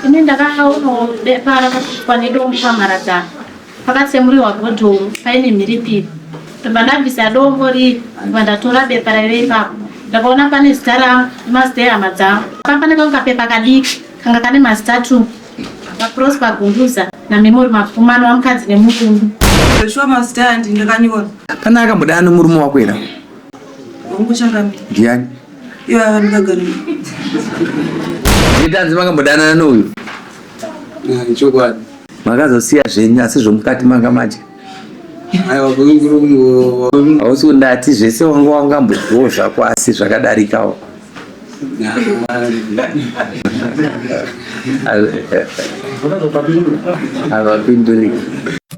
ini ndakaonawo pakasvikwa nedombo pamharadzano pakatsemuriwa bhodhomu paine mhiripiri ndobva ndabvisa dombo rii ndobva ndatora bepa raive ipapo ndakaona pane zita rangu nemazita ehama dzangu papaneka kukapepa kadiki kanga kane mazita two vaprosper gunduza namemory mapfumano vamukadzi nemukundu zveshuwa mazita andi ndakanyora kana akamboda anomurume wakwera ndiani Ivava ndakagara. Nditanzi makambodanana nouyu. Ah, chokwadi. Makazosiya zvenyu asi zvomukati manga maje. Aiwa kunguru kungu. Hausi kundati zvese wanga wangambozviwo zvako asi zvakadarikawo. Havapinduri.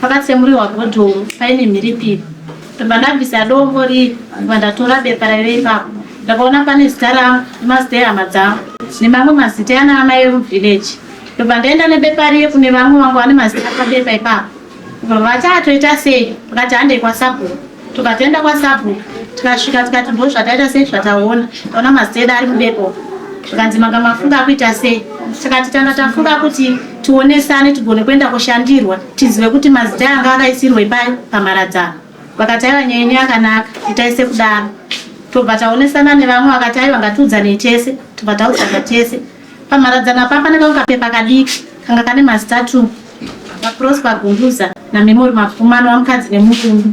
Pakatsemuriwa bhodhoro paine mhiripiri ndobva ndabvisa dombo riri ndobva ndatora bepa raive ipapo ndakaona pane zita rangu nemazita ehama dzangu nemamwe mazita ana amai emuvillage ndobva ndaenda nebepa riye kune vamwe vangu vane mazita pabepa ipapo ndobva vati atoita sei vakati handei kwasabhuku tukatoenda kwasabhuku tikasvika tikati ndo zvataita sei zvataona taona maziteda ari mudepo zvikanzi manga mafunga akuita sei tikati tanga tafunga kuti tionesane tigone kuenda kushandirwa tizive kuti mazita anga akaisirwa ipai pamharadzano vakati aiva nyaya yenyu yakanaka itai sekudaro tobva taonesana nevamwe vakati aiva ngatiudzanei tese tobva taudzana tese Pamharadzano apa pane kamwe kapepa kadiki kanga kane mazita two vaProsper Gunduza naMemory Mapfuma anova mukadzi nemurume.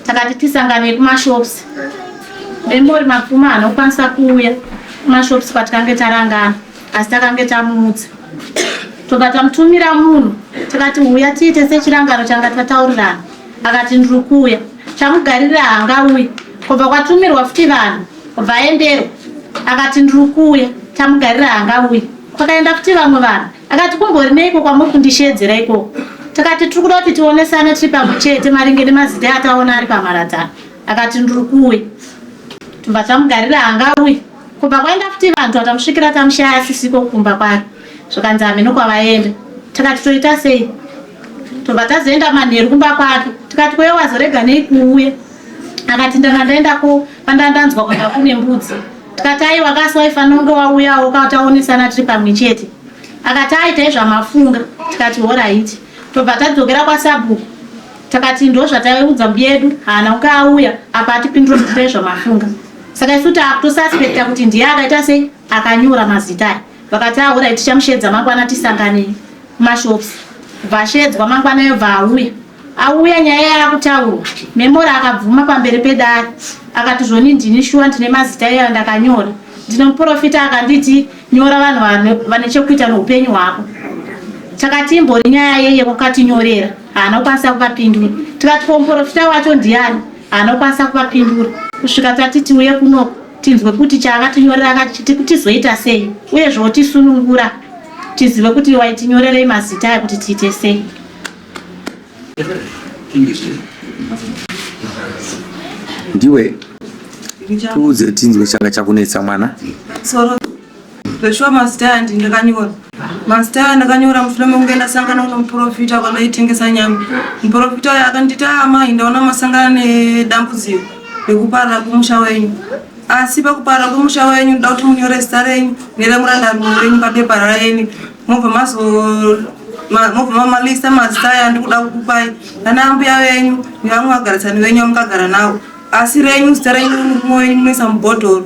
Takati tisanganei kumashops. Memory Mapfuma haana kukwanisa kuuya kumashops kwatikange tarangana asi takange tamuudza tobva tamutumira munhu takati huya tiite sechirangano changa tataurirana akati ndiri kuuya chamugarira haangauyi kubva kwatumirwa futi vanhu Vaendero akati ndiri kuuya tamugarira haangauye kwakaenda kuti vamwe vanhu akati kumbori neiko kwamuri kundisheedzera ikoko tikati tiri kuda kuti tionesane tiri pamwe chete maringe nemazita ataona ari pamharadzano akati ndiri kuuya tobva tamugarira haangauye kubva kwaenda kuti vanhu vatamusvikira tamushaya asisiko kumba kwake zvikanzi hameno kwavaenda tikati toita sei tobva tazoenda manheru kumba kwake tikati kweyo wazorega nei kuuya akati ndanga ndaenda ko pandandanzwa kwanga kune mbudzi tikati aiwa kasi waifanira kunge wauyawo kataonesana tiri pamwe chete akati aita izvamafunga tikati horaiti tobva tadzokera kwasabhuku takati ndo zvataiudza mbiyedu haana kunge auya apa atipindura kuita izvamafunga saka isu taakutosaspekta kuti ndiye akaita sei akanyora mazita Vakati alright tichamushedza mangwana tisangane kumashops. Kubva ashedzwa mangwana yo bva auya. Auya nyaya yakutaurwa. Memora akabvuma pamberi pedare. Akati zvoni ndini shuwa ndine mazita iyayo ndakanyora. Ndine muprofita akanditi nyora vanhu vane chekuita neupenyu hwako. Takati imbori nyaya yei yekukatinyorera. Haana kukwanisa kuvapindura. Tikati ko muprofita wacho ndiani? Haana kukwanisa kuvapindura. Kusvika tati tiuye kunoko. tinzwe kuti chaakatinyorera akati tiku tizoita sei uye zvotisunungura tizive kuti waitinyorerei mazita aya kuti tiite sei ndiwe tiudze tinzwe changa chakunetsa mwana Zveshuwa mazita aya ndi ndakanyora. Mazita aya ndakanyora mushure mekunge ndasangana nomuprofita kwandaitengesa nyama. Muprofita uya akanditi, ah, amai, ndaona masangana nedambudziko rekuparara kwemusha wenyu. Asi pakuparara kwemusha wenyu, ndoda kuti munyore zita renyu neremurandarume wenyu papepa raeni mobva mazo mamamalisa mazita aya ndikuda kukupai ana ambuya venyu nevamwe vagarisani venyu vamukagara navo asi renyu zita renyu mumwe wenyu munoisa mubhodhoro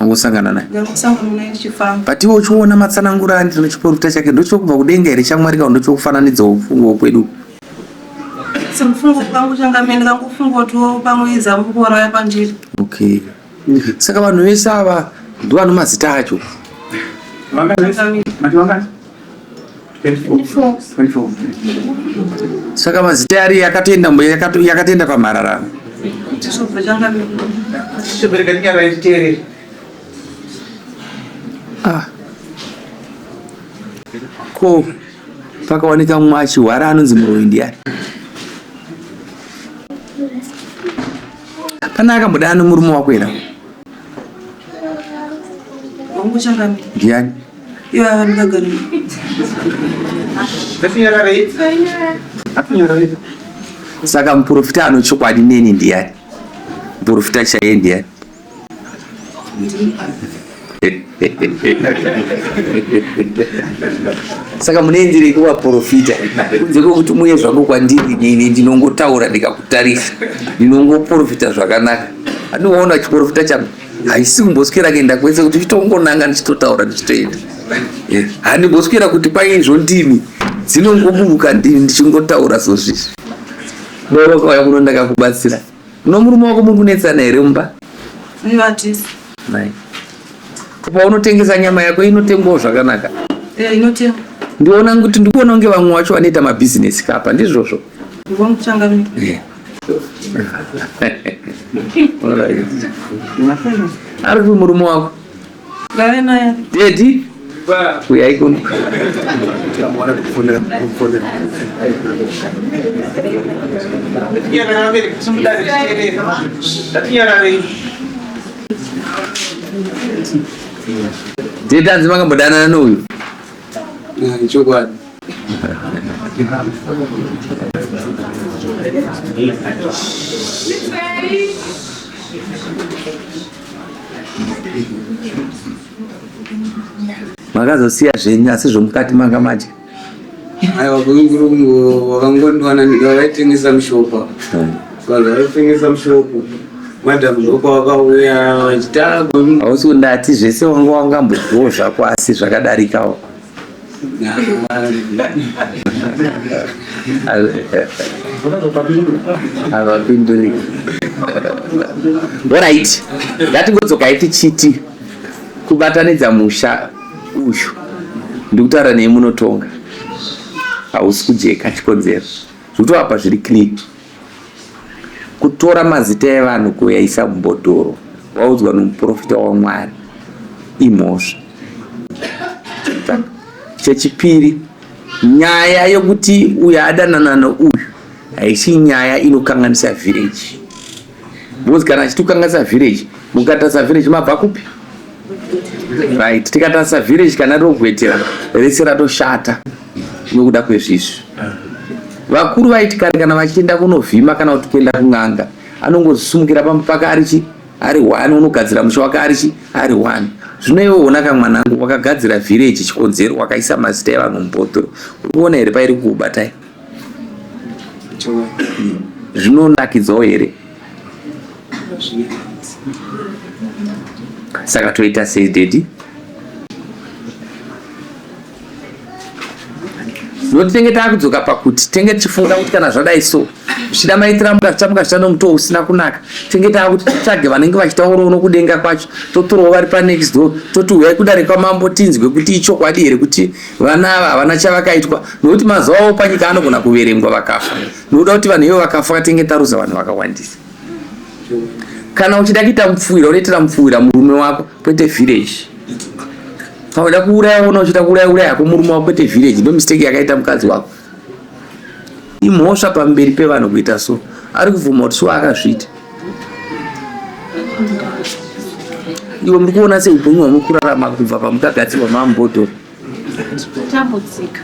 angosangana naye but iwe uchiona matsanangura andino chiporofita chake ndochokubva kudenga here chamwari kao ndochokufananidza ufungo kwedu okay saka vanhu vese ava ndovanhu mazita acho saka mazita yari yakatoenda yakatoenda kwamhararano ah. ko pakawanika mumwe achihwara anonzi muroyi ndiyani pane akamboda ano murume wakwera ndiyani Ivava ndakagara. Ndatinyarara idzi. Ndatinyarara idzi. Saka muprofita anochokwadi neni ndiyani? Muprofita chaiye ndiyani? saka munoenderei kuvaprofita kunze kwekuti muye zvangu kwandiri nini ndinongotaura ndikakutarisa ndinongoprofita zvakanaka andiwaona chiprofita changu haisi kumboswera kuenda kwese kuti chitongonanga ndichitotaura ndichitoenda eh, handimboswera kuti paizvo ndimi dzinongoburuka ndini ndichingotaura sozvizvi ndookauya kuno ndakakubatsira no murume wako muri kunetsana here mumba paunotengesa nyama yako inotengwawo zvakanaka eh, ndiona kuti ndikuona kunge vamwe wacho vanoita mabhizinesi kapa ndizvozvo ari kupi murume wako dedi uyai kuno dedi anzi makambodanana nouyu chokwadi makazosiya zvenyu asi zvomukati manga maje aiwa kuinguru wakangondwana vaitengesa mushopa hmm. vanhu vaitengesa mushopo madam ndoko wakauya vachitagwa hausi kundati zvese wanga wangambobhowo zvako asi zvakadarikawo havapinduri orit ngatingodzokai tichiti kubatanidza musha uyu ndikutaura nei munotonga hausi kujeka chikonzero zvikutovapa zviri clean kutora mazita evanhu kuyaisa mubhodhoro waudzwa nomuprofita wamwari imhosva chechipiri nyaya yokuti uyo adanana nouyu haisi nyaya inokanganisa vhireji because kana achitokanganisa vhireji mukatasa vhireji mabva kupi right tikatarisa village kana rogwetera rese ratoshata nokuda kwezvizvi vakuru vaiti kare kana vachienda kunovhima kana kuti kuenda kun'anga anongozisumukira pamba pake arichi ari one unogadzira musha wake arichi ari one zvino iwe ona ka mwanangu wakagadzira village chikonzero wakaisa mazita evanhu mubhotoro uri kuona here pairi kukubatai zvinonakidzawo here saka toita sei dedi no tinenge taakudzoka pakuti tenge tichifunga kuti kana zvadai so zvichida maitira mukazvita mukazvita nomutoo usina kunaka tenge taakuti titsvage vanenge vachitaurawo nokudenga kwacho totorawo vari panext door toti huyai kudare kwamambo tinzwe kuti ichokwadi here kuti vana ava havana chavakaitwa nokuti mazuva avo panyika anogona kuverengwa vakafa Ndinoda kuti vanhu ivo vakafa katenge taruza vanhu vakawandisa. Kana uchida kuita mupfuwira unoitira mupfuwira murume wako kwete village. Kana uchida kuuraya wona uchida kuuraya uraya hako murume wako kwete village. Ndo mistake yakaita mukadzi wako. Imhosva pamberi pevanhu kuita so. Ari kubvuma kuti so akazviita. Iwe muri kuona sei upenyu hwamukurarama kubva pamukagadzirwa mambodo. Tambudzika.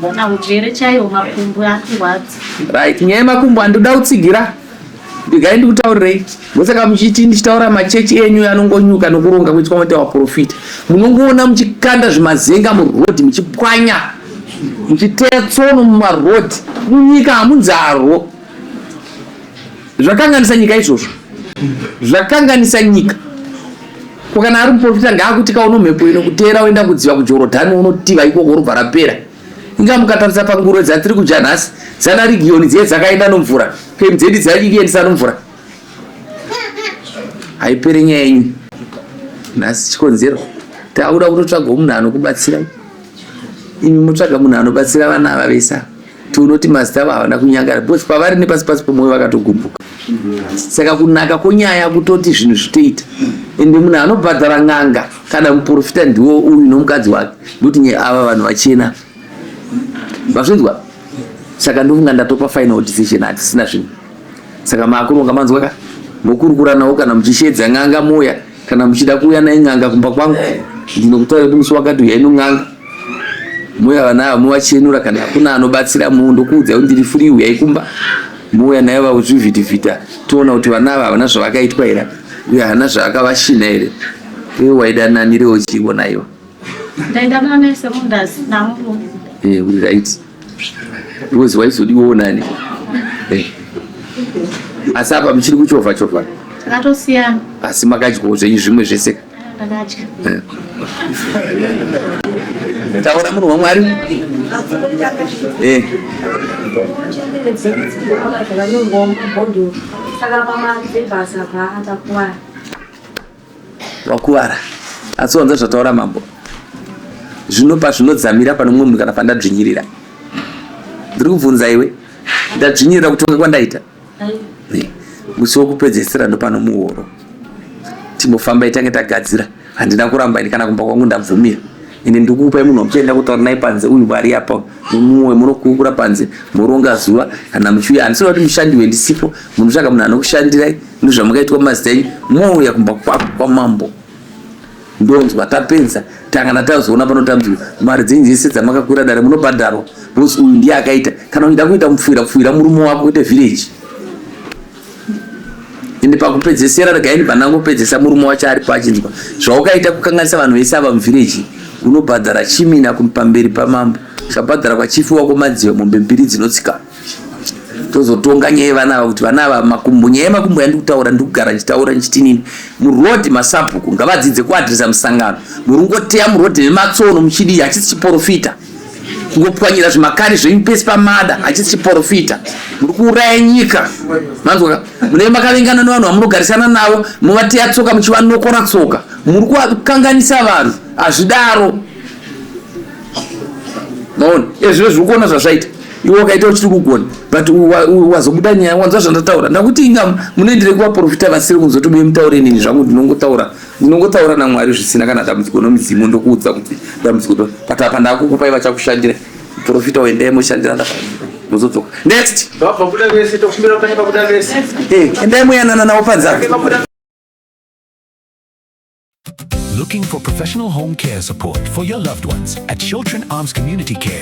Bona hujere chaiwo makumbo akurwadza. Right, nyaya yemakumbo andoda kutsigira. Ndigai ndikutaurirei. Ndosaka muchiti ndichitaura machechi enyu anongonyuka nokuronga kuitwa mwete waprofita. Munongoona muchikanda zvimazenga muroad muchipwanya. Muchiteya tsono mumaroad. Munyika hamunzarwo. zvakanganisa nyika izvozvo zvakanganisa nyika ko kana ari muprofita ngaakuti kauno mhepo ino kuteera oenda kudziva kujorodhani unotiva ikoko robva rapera inga mukatarisa panguro dzatiri kudya nhasi dzana rigiyoni dziye dzakaenda nomvura pemu dzedi dzaiendisa nomvura haipere nyaya yenyu nhasi chikonzero taakuda kutotsvaga munhu anokubatsira imi motsvaga munhu anobatsira vana ava vese ava Tionoti mazita avo havana kunyangara because pavari nepasi pasi pomwoyo vakatogumbuka. Saka kunaka konyaya kutoti zvinhu zvitoita ende munhu anobhadhara n'anga kana muprofita ndiwo uyu nomukadzi wake ndokuti nye ava vanhu vachena mazvinzwa saka ndofunga ndatopa final decision hatisina zvinhu saka maakuronga manzwaka mokurukuranawo kana muchishedza n'anga moya kana muchida kuuya naye n'anga kumba kwangu ndinokutaura kuti musi wakati uyai non'anga mouya vana ava movachenura kana hakuna anobatsira mu ndokuudzai kuti ndiri furi uyai kumba mouya naye vakuzvivhitivhita toona kuti vana ava havana zvavakaitwa here uye hana zvavakavashina here uye waida nani rewo chiivo naiva ndaenda kuna nurse mundazi namuru eh uri right rose waizodiwawo nani eh asi apa muchiri kuchovha chovha takatosiyana asi makadyawo zvenyu zvimwe zvese eh, ndakadya eh. taura munhu wamwari eh saka pamadzibasa paatakuwara wakuvara asi wanza zvataura mambo zvino pazvinodzamira pane mumwe munhu kana pandadzvinyirira ndiri kubvunza iwe ndadzvinyirira kutonga kwandaita musi wokupedzesera ndopano muhoro timbofamba itange tagadzira handina kuramba ini kana kumba kwangu ndabvumira ende ndikupai munhu wamuchaenda kutaura naye panze uyu vari apa mumwe munokurukura panze moronga zuva kana muchiuya handisina kuti mushandi wendisipo munotsvaka munhu anokushandirai ndozvamakaitwa mazita enyu mouya kumba kwako kwamambo ndonzwa tapenza tangana tazoona panotambiwa mari dzenyu dzese dzamakakwira dare munobhadharwa bcause uyu ndiye akaita kana uchida kuita mupfuira pfuira murume wako kuite village ende pakupedzesera regai ndibva ndangopedzesa murume wacho aripo achinzwa zvaukaita kukanganisa vanhu vese ava muvhireji unobhadhara chimina pamberi pamambo chabhadhara kwachifi wako madziva mombe mbiri dzinotsika tozotonga nyaya yevana ava kuti vana ava makumbo nyaya yemakumbo yandi kutaura ndi kugara ndichitaura ndichitinini muroad masabhuku ngavadzidze kuadresa musangano muringoteya muroad nematsono muchidii hachisi chiporofita kungopwanyira zvimakani zvenyu pese pamada hachisi chiporofita muri kuuraya nyika manzwa munee makavengana nevanhu vamunogarisana navo movateya tsoka muchivanokora tsoka muri kukanganisa vanhu hazvidaro maona ezvio zviri kuona zvazvaita iwe wakaita uchiri kugona but wazobuda nyaya wanzwa zvandataura ndakuti inga munoendere kuvaporofita vasiri kunzwa tobe mutaure nini zvangu ndinongotaura ndinongotaura namwari zvisina kana dambudziko nomudzimu ndokuudza kuti dambudziko ndo but apa ndakukupai vachakushandira profita uendee moshandira mozodzoka next eh, endai muyanana navo panzake Looking for professional home care support for your loved ones at Children Arms Community Care.